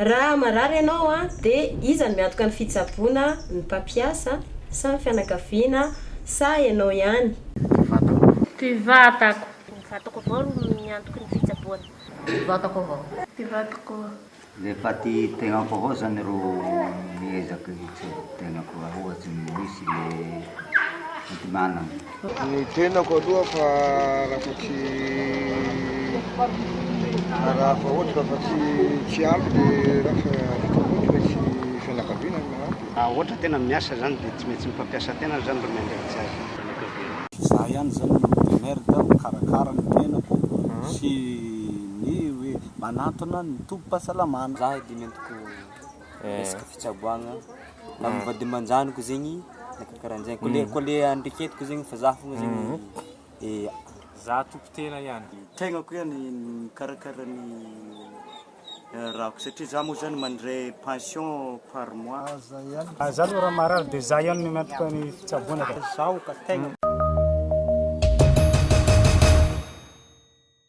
Raha marary ianao dia iza no miantoka ny fitsaboana, ny mpampiasa sa ny fianakaviana sa ianao ihany? Ty vatako. Ny vatako avao ro miantoky ny fitsaboana. Ty vatako avao. Ty vatako. Rehefa ty tegnako avao zany ro miezaka hitsaboa tegnako raha ohatry ny misy le fidinana. Ny tenako aloha fa raha fa tsy raha fa ohatra raha fa tsy tsy ampy dia raha fa vita koa dia tsy fianakaviana no manampy. Raha ohatra tena miasa zany dia tsy maintsy ny mpampiasa tena zany ro miandraikitra azy amin'ny fianakaviana. Za ihany zany no mi-demerda mikarakara ny tenako sy ny hoe manantona ny tobim-pahasalamana. Za dimy ambin'ny folo. resaka fitsaboagna tamin'ny vadimanjaniko zegny na karahanjegny ko le ko le andreketiko zegny fa zah fogna zegny zah tompoko tena ihany tegnako ihany mikarakara ny rahako satria zah moa zany mandray pension par mois ah zah aloha raha marary de zah ihany no miantoka ny fitsaboana fa zaho ka tegna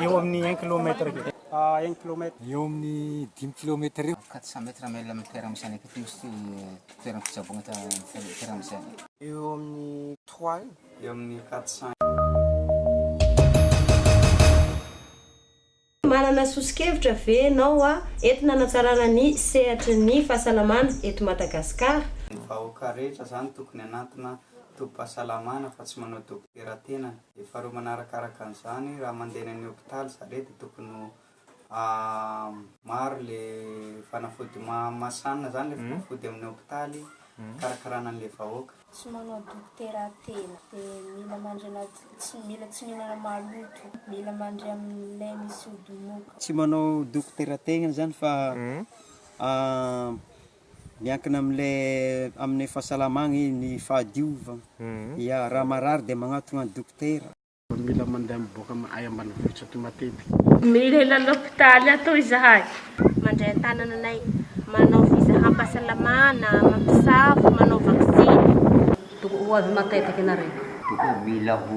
Eo amin'ny un kilomètre eo. Ah, un kilomètre. Eo amin'ny dimy kilomètre eo. Quatre cents mètres mail amin'ny toerana misy anay taty misy toerana fitsaboana toerana misy anay. Eo amin'ny trois eo. Eo amin'ny quatre cents. Manana soso-kevitra ve ianao a entina hanatsarana ny sehatry ny fahasalamana eto Madagasikara? Ny vahoaka rehetra zany tokony anantina tobim-pahasalamana fa tsy manao dokotera tenany. Dia faharoa manaraka araka an'izany, raha mandeha eny amin'ny hopitaly za re dia tokony ho maro le fanafody mahamasana zany le fanafody amin'ny hopitaly hikarakarana an'le vahoaka. Tsy manao dokotera tena dia mila mandry anaty, tsy mila tsy mihinana maloto, mila mandry amin'ilay misy ody moka. Tsy manao dokotera tegna zany fa Miankina amin'ilay amin'ny fahasalamagna e ny fahadiovagna. Ya, raha marary dia magnatogna an'i dokotera. Mila mandeha miboaka am ay ambanivohitra aty matetika. Milela lopitaly ato izahay. Mandray an-tanana anay. Manao fizahampasalamana, mampisafo, manao vaksiny. Tokony ho avy matetika ianareo. Tokony mila ho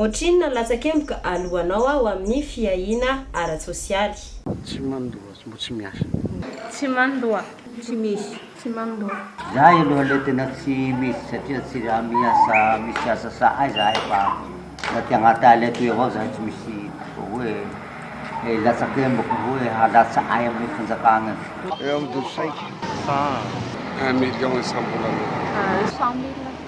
Ohatrinona ny latsakemboka aloanao ao amin'ny fiahiana ara-tsosialy? Tsy mandoa, mbo tsy miasa. Tsy mandoa, tsy misy. Tsy mandoa. Zahay aloha le tena tsy misy satria tsy raha miasa misy asa sahay zahay fa aty agnaty ala atoy avao zahay tsy misy hoe latsakemboko hoe halatsa ahy amin'ny fanjakana e. Eo amin'ny dosy saika sa un million isambolana? Cent mille.